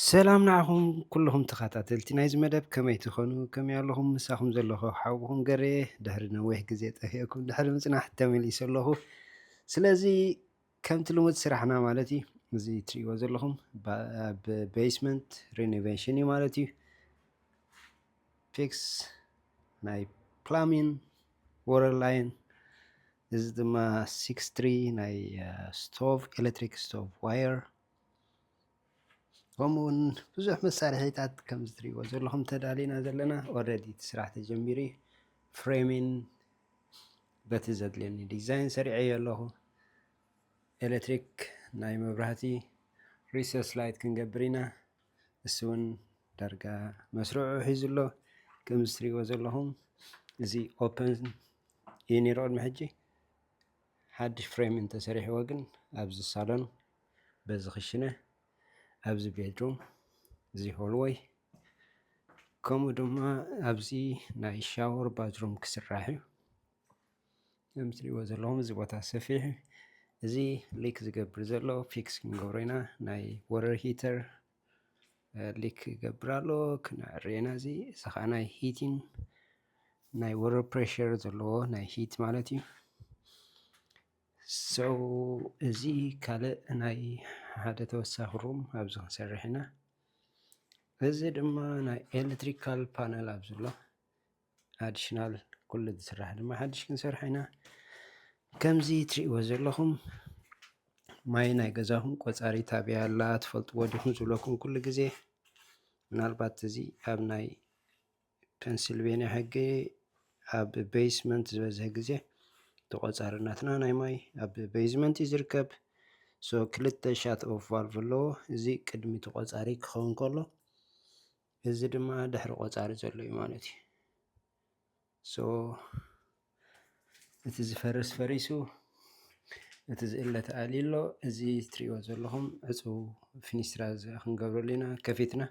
ሰላም ንዓኹም ኩልኹም ተኸታተልቲ ናይዚ መደብ ከመይ ትኾኑ ከመይ ኣለኹም ምሳኹም ዘለኹ ሓውኹም ገሬ ድሕሪ ነዊሕ ግዜ ጠፊአኩም ድሕሪ ምፅናሕ ተመሊሰ ኣለኹ ስለዚ ከምቲ ልሙድ ስራሕና ማለት እዩ እዚ ትሪእዎ ዘለኹም ኣብ ቤስመንት ሪኖቬሽን እዩ ማለት እዩ ፊክስ ናይ ፕላሚን ወረር ላይን እዚ ድማ ሲክስ ትሪ ናይ ስቶቭ ኤሌክትሪክ ስቶቭ ዋየር ከምኡ ውን ብዙሕ መሳርሒታት ከምዚ ትሪእዎ ዘለኹም ተዳሊና ዘለና ኦረዲ እቲ ስራሕ ተጀሚሩ ዩ። ፍሬምን በቲ ዘድልየኒ ዲዛይን ሰሪዐዮ ኣለኹ። ኤሌክትሪክ ናይ መብራህቲ ሪሶርስ ላይት ክንገብር ኢና። እሱ ውን ዳርጋ መስርዑ ሒዙ ኣሎ። ከምዚ ትሪእዎ ዘለኹም እዚ ኦፕን ዩ ነይሩ ቅድሚ ሕጂ። ሓድሽ ፍሬም እንተሰሪሕዎ ግን ኣብዚ ሳሎን በዚ ክሽነ ኣብዚ ቤድሩም እዚ ሆልወይ ከምኡ ድማ ኣብዚ ናይ ሻወር ባዝሩም ክስራሕ እዩ ከም ትሪእዎ ዘለኹም እዚ ቦታ ሰፊሕ እዚ ሊክ ዝገብር ዘሎ ፊክስ ክንገብሮ ኢና ናይ ወረር ሂተር ሊክ ይገብር ኣሎ ክነዕርየና እዚ እዚ ከዓ ናይ ሂቲን ናይ ወረ ፕሬሽር ዘለዎ ናይ ሂት ማለት እዩ ሰው እዚ ካልእ ናይ ሓደ ተወሳኺ ሩም ኣብዚ ክንሰርሕ ኢና እዚ ድማ ናይ ኤሌክትሪካል ፓነል ኣብዚ ኣሎ ኣዲሽናል ኩሉ ዝስራሕ ድማ ሓድሽ ክንሰርሖ ኢና ከምዚ ትሪእዎ ዘለኹም ማይ ናይ ገዛኹም ቆፃሪ ታበይ ኣላ ትፈልጥዎ ዲኹም ዝብለኩም ኩሉ ግዜ ምናልባት እዚ ኣብ ናይ ፐንስልቬንያ ሕጊ ኣብ ቤይስመንት ዝበዝሐ ግዜ ተቆፃሪ ናትና ናይ ማይ ኣብ ቤይዝመንት እዩ ዝርከብ ሶ ክልተ ሻት ኦፍ ቫልቭ ኣለዎ እዚ ቅድሚ ተቆፃሪ ክኸውን ከሎ እዚ ድማ ድሕሪ ቆፃሪ ዘሎ እዩ ማለት እዩ። ሶ እቲ ዝፈርስ ፈሪሱ እቲ ዝእለ ተኣሊ ኣሎ እዚ ትሪእዎ ዘለኹም ዕፁው ፊኒስትራ ክንገብረሉ ኢና ከፊትና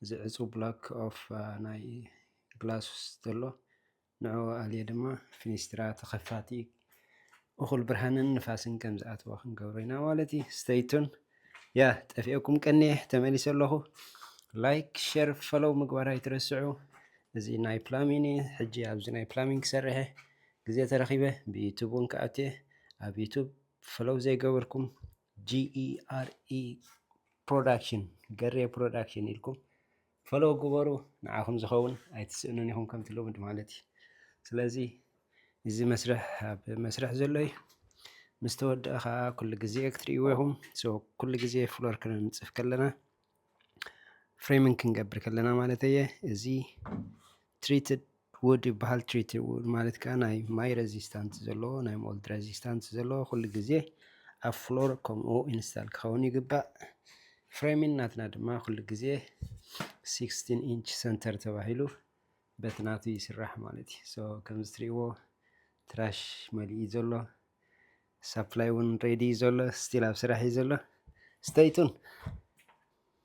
እዚ ዕፁው ብላክ ኦፍ ናይ ግላስ ዘሎ ንዕኡ ኣልዩ ድማ ፊኒስትራ ተኸፋቲ እኹል ብርሃንን ንፋስን ከም ዝኣትዎ ክንገብሮ ኢና ማለት እዩ ስተይቱን ያ ጠፊኦኩም ቀኒየ ተመሊሰ ኣለኹ ላይክ ሸር ፈሎው ምግባር ኣይትረስዑ እዚ ናይ ፕላሚን እዩ ሕጂ ኣብዚ ናይ ፕላሚን ክሰርሐ ግዜ ተረኺበ ብዩቱብ እውን ክኣትየ ኣብ ዩቱብ ፈሎው ዘይገበርኩም ጂኢኣርኢ ፕሮዳክሽን ገሬ ፕሮዳክሽን ኢልኩም ፈለዉ ግበሩ ንዓኹም ዝኸውን ኣይትስእኑን ኢኹም ከምቲ ልሙድ ማለት እዩ ስለዚ እዚ መስርሕ ኣብ መስርሕ ዘሎ እዩ ምስ ተወድአ ከዓ ኩሉ ግዜ ክትርእይዎ ኢኹም ሶ ኩሉ ግዜ ፍሎር ክንንፅፍ ከለና ፍሬሚንግ ክንገብር ከለና ማለት እየ እዚ ትሪትድ ውድ ይበሃል ትሪት ውድ ማለት ከኣ ናይ ማይ ረዚስታንት ዘለዎ ናይ ሞልድ ረዚስታንት ዘለዎ ኩሉ ግዜ ኣብ ፍሎር ከምኡ ኢንስታል ክኸውን ይግባእ ፍሬሚን ናትና ድማ ኩሉ ግዜ 16 ኢንች ሰንተር ተባሂሉ በቲ ናቱ ይስራሕ ማለት እዩ ሶ ከምዚ ትሪእዎ ትራሽ መሊኡ ዘሎ ሳፕላይ እውን ሬዲ እዩ ዘሎ ስቲል ኣብ ስራሕ እዩ ዘሎ ስተይቱን